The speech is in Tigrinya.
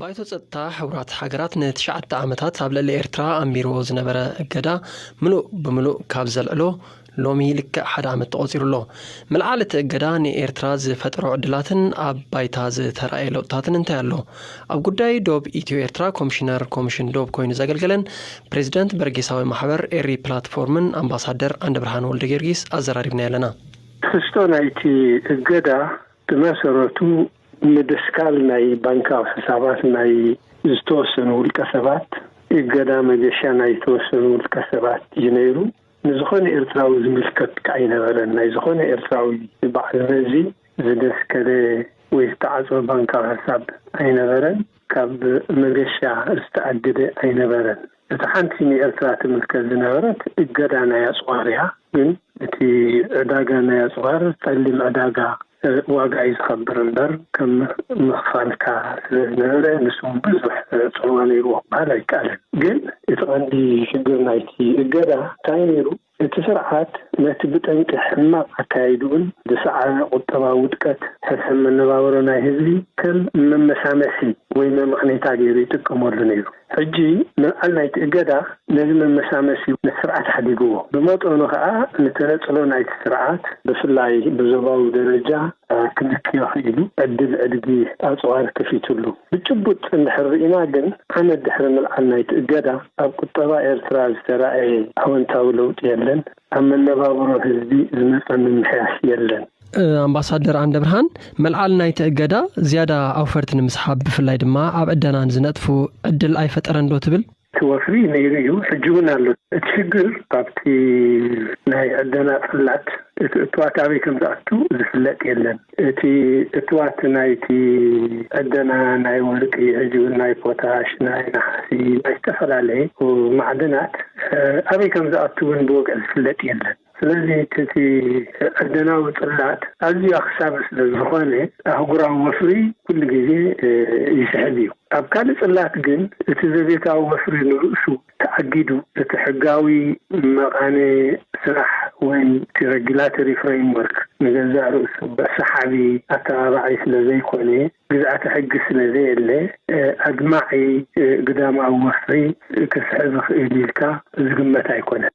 ባይቶ ጸጥታ ሕቡራት ሃገራት ንትሽዓተ ዓመታት ኣብ ልዕሊ ኤርትራ ኣንቢርዎ ዝነበረ እገዳ ምሉእ ብምሉእ ካብ ዘልዕሎ ሎሚ ልክዕ ሓደ ዓመት ተቖጺሩ ኣሎ። ምልዓል እቲ እገዳ ንኤርትራ ዝፈጠሮ ዕድላትን ኣብ ባይታ ዝተራእየ ለውጥታትን እንታይ ኣሎ? ኣብ ጉዳይ ዶብ ኢትዮ ኤርትራ ኮሚሽነር ኮሚሽን ዶብ ኮይኑ ዘገልገለን ፕሬዚደንት በርጌሳዊ ማሕበር ኤሪ ፕላትፎርምን ኣምባሳደር ዓንደብርሃን ወልደጊዮርጊስ ኣዘራሪብናዮ ኣለና። ትሕዝቶ ናይቲ እገዳ ብመሰረቱ ምድስካል ናይ ባንካዊ ሕሳባት ናይ ዝተወሰኑ ውልቀሰባት፣ እገዳ መገሻ ናይ ዝተወሰኑ ውልቀሰባት እዩ ነይሩ። ንዝኾነ ኤርትራዊ ዝምልከት ከኣ ኣይነበረን። ናይ ዝኾነ ኤርትራዊ በዓል መዚ ዝደስከለ ወይ ዝተዓጽወ ባንካዊ ሕሳብ ኣይነበረን። ካብ መገሻ ዝተኣግደ ኣይነበረን። እታ ሓንቲ ንኤርትራ ትምልከት ዝነበረት እገዳ ናይ ኣጽዋር እያ። ግን እቲ ዕዳጋ ናይ ኣጽዋር ጸሊም ዕዳጋ ዋጋ እዩ ዝኸብር እምበር ከም ምኽፋልካ ስለ ዝነበረ ንሱ ውን ብዙሕ ጽልዋ ነይርዎ ክበሃል ኣይከኣልን። ግን እቲ ቀንዲ ሽግር ናይቲ እገዳ እንታይ ነይሩ እቲ ስርዓት ነቲ ብጠንቂ ሕማቕ ኣካያይድኡን ዝሰዓበ ቁጠባዊ ውድቀት ሕሰም መነባብሮ ናይ ህዝቢ ከም መመሳመሲ ወይ መመቕኔታ ገይሩ ይጥቀመሉ ነይሩ። ሕጂ ምልዓል ናይቲ እገዳ ነዚ መመሳመሲ ስርዓት ሓዲግዎ፣ ብመጠኑ ከኣ ንተነጽሎ ናይቲ ስርዓት፣ ብፍላይ ብዞባዊ ደረጃ፣ ክልክዮ ክኢሉ፣ ዕድል ዕድጊ ኣጽዋር ከፊቱሉ። ብጭቡጥ እንድሕር ርኢና ግን፣ ዓመት ድሕሪ ምልዓል ናይቲ እገዳ፣ ኣብ ቁጠባ ኤርትራ ዝተራእየ ኣወንታዊ ለውጢ የለን፣ ኣብ መነባብሮ ህዝቢ ዝመጸ ምምሕያሽ የለን። ኣምባሳደር ኣንደብርሃን መልዓል ናይቲ እገዳ ዝያዳ ኣውፈርቲ ንምስሓብ ብፍላይ ድማ ኣብ ዕደና ንዝነጥፉ ዕድል ኣይፈጠረን ዶ ትብል? እቲ ወፍሪ ነይሩ እዩ፣ ሕጂ እውን ኣሎ። እቲ ሽግር ኣብቲ ናይ ዕደና ጽላት እቲ እቱዋት ኣበይ ከም ዝኣቱ ዝፍለጥ የለን። እቲ እቱዋት ናይቲ ዕደና ናይ ወርቂ ሕጂ እውን ናይ ፖታሽ፣ ናይ ነሓሲ፣ ናይ ዝተፈላለየ ማዕድናት ኣበይ ከም ዝኣቱ እውን ብወግዒ ዝፍለጥ የለን። ስለዚ እቲ ዕደናዊ ጽላት ኣዝዩ ኣኽሳቢ ስለ ዝኾነ ኣህጉራዊ ወፍሪ ኩሉ ግዜ ይስሕብ እዩ። ኣብ ካልእ ጽላት ግን እቲ ዘቤታዊ ወፍሪ ንርእሱ ተኣጊዱ እቲ ሕጋዊ መቓነ ስራሕ ወይ እቲ ረጊላተሪ ፍረይምወርክ ንገዛእ ርእሱ ሰሓቢ፣ ኣተባባዒ፣ ስለ ዘይኮነ፣ ግዝኣተ ሕጊ ስለ ዘየለ ኣድማዒ ግዳማዊ ወፍሪ ከስዕብ ይኽእል ኢልካ ዝግመት ኣይኮነን።